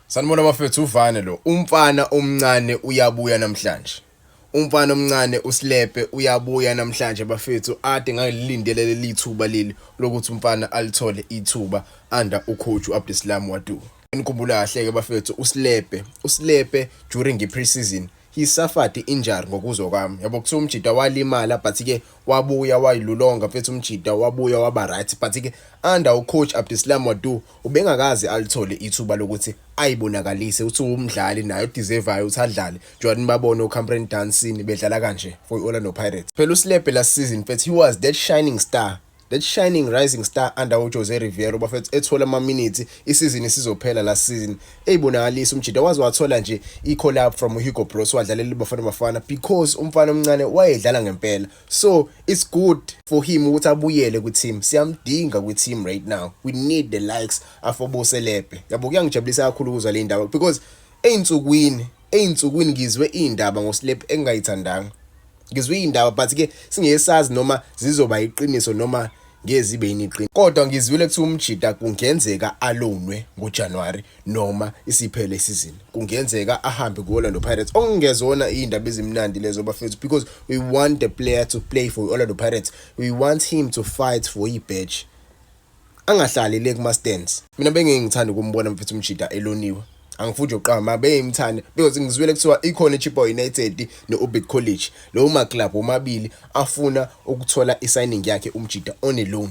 Sanibona bafethu uvane lo. Umfana omncane uyabuya namhlanje. Umfana omncane usilepe uyabuya namhlanje bafethu ade ngalilindele leli thuba leli lokuthi umfana alithole ithuba under ucoach uAbdeslam Wadu. Nikhumbula kahle ke bafethu usilepe usilepe during i-preseason he suffered injury ngokuzwa kwami yabo kuthiwa umjida walimala but ke wabuya wayilulonga mfethu umjida wabuya waba right but ke under ucoach Abdeslam Wadu ubengakaze alithole ithuba lokuthi ayibonakalise uthi umdlali naye odeservayo uthi adlale njengoba nibabone oCamprine Dancing bedlala kanje for i-Orlando Pirates phela uSlebhe last season mfethu he was that shining star that shining rising star under uJose Riveiro bafethu ethola amaminithi isizini sizophela last season eyibonakalisa umjida waze wathola nje i-collab from Hugo Broos wadlalela iBafana Bafana because umfana omncane wayedlala ngempela so it's good for him ukuthi abuyele kwi-team siyamdinga kwi-team right now we need the likes afoboselebhe yabo kuyangijabulisa kakhulu ukuzwa le ndaba because ey'nsukwini ey'nsukwini ngizwe iy'ndaba ngosilebhe engingayithandanga ngizwe iy'ndaba but-ke singesazi noma zizoba yiqiniso noma ngezi ibe yiniqini kodwa ngizwile kuthi umjita kungenzeka alonwe ngoJanuary noma isiphele isizini kungenzeka ahambe ku-Orlando Pirates okungezona iy'ndaba ezimnandi lezo bafethu because we want the player to play for i-Orlando Pirates we want him to fight for i-badge angahlali le kuma-stands mina bengingithanda ukumbona mfethu umjita eloniwe angifuni nje uqamba beyimthanda because ngizwile kuthiwa ikhona iChipo United ne-Orbit College lowo maclub omabili afuna ukuthola i-signing yakhe umjida on a loan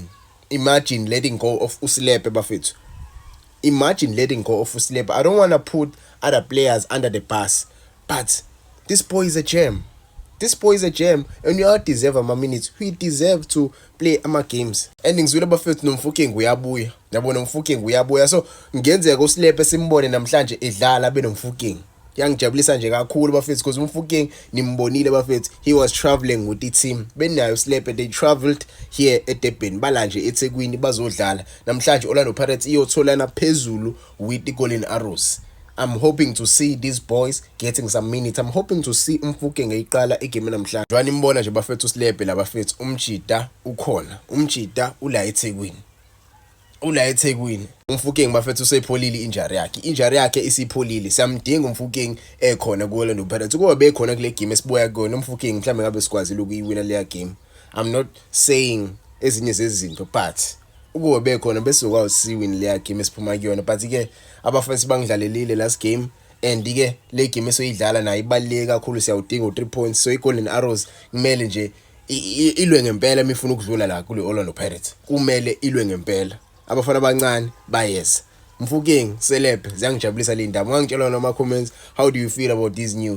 imagine letting go of usilepe bafethu imagine letting go of usilepe i don't want to put other players under the bus but this boy is a gem this boy is a gem and you all deserve ama minutes he deserve to play ama games and ngizwile bafethu nomfukengu uyabuya yabo nomfukengu uyabuya so ngenzeka usilepe simbone namhlanje edlala benomfukengu yangijabulisa nje kakhulu bafethu because umfuking nimbonile bafethu he was traveling with i-team benayo slepe they traveled here edurban bala nje ethekwini bazodlala namhlanje orlando pirates iyotholana phezulu with the Golden Arrows. I'm hoping to see these boys getting some minutes. I'm hoping to see umfuke ngeyiqala igame namhlanje. Njengoba nimbona nje bafethu usilebhe labafethu umjida ukhona. Umjida ula eThekwini. Ula eThekwini. Umfukeng bafethu usepholile injury yakhe. Injury yakhe isipholile. Siyamdinga umfukeng ekhona ku Orlando Pirates. Kuba bekhona kule game esibuya kuyona umfukeng mhlawumbe ngabe sikwazile ukuyiwina leya game. I'm not saying ezinye zezinto but ukuwe bekhona bese ukwawusiwini leya game esiphuma kuyona but ke abafethu bangidlalelile last game and ke le game esoyidlala nayo ibaluleke kakhulu siyawudinga u3 points so iGolden Arrows kumele nje ilwe ngempela imifuna ukudlula la kule Orlando Pirates kumele ilwe ngempela abafana abancane bayeza Mfuking selebhe ziyangijabulisa le ndaba ungangitshela noma comments how do you feel about these news